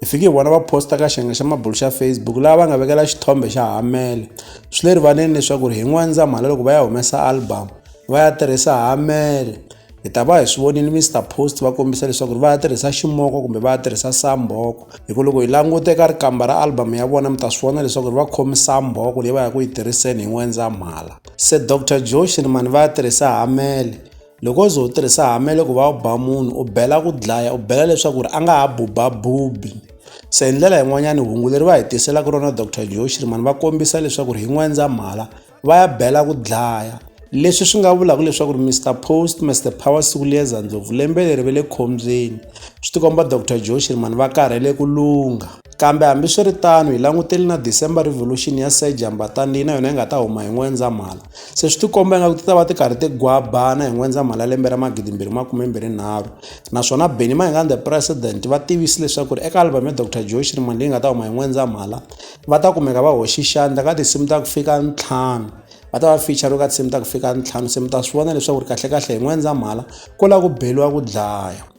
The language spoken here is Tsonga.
hi fike hi vona va posta ka xiyenge xa mabulo xa facebook laha va nga vekela xithombe xa hamele swi le rivaleni leswaku ri hi n'wandzamhala loko va ya humesa album va ya tirhisa hamele hi ta va hi swi vonile mr post va kombisa leswaku ri va ya tirhisa ximoko kumbe va ya tirhisa samboko hi ku loko hi languta eka rikamba ra album ya vona mi ta swi vona leswaku ri va khomi samboko leyi va ya ku yi tirhiseni hi n'wendzamhala se dr joshini mani va ya tirhisa hamele loko o ze u tirhisa hamele ku va u ba munhu u bela ku dlaya u bela leswaku ri a nga ha bubabubi se hi ndlela yin'wanyana hungu leri va hi tiselaka rona dr joe shirman va kombisa leswaku ri hi n'wendzamhala va ya bela ku dlaya leswi swi nga vulaka leswaku ri mr post mr power siku liyeza ndlopfu lembe leri ve le khombyeni swi tikomba dr joe shirman va karhele ku lungha Kambe hambi swi ri tano hi langutele na December Revolution ya Sir Jambatani leyi na yona yi nga ta huma hi N'wendzamhala. Se swi tikomba ingaku ti ta va ti karhi ti gwabana hi N'wendzamhala lembe ra 2023 naswona Benny Mayengani the President va tivise leswaku eka album ya Dr Joe Shirimani leyi nga ta huma hi N'wendzamhala va ta kumeka va hoxi xandla ka tinsimu ta ku fika ntlhanu va ta va feature ka tinsimu ta ku fika ntlhanu se mi ta swi vona leswaku ri kahlekahle hi N'wendzamhala ku la ku beliwa ku dlaya.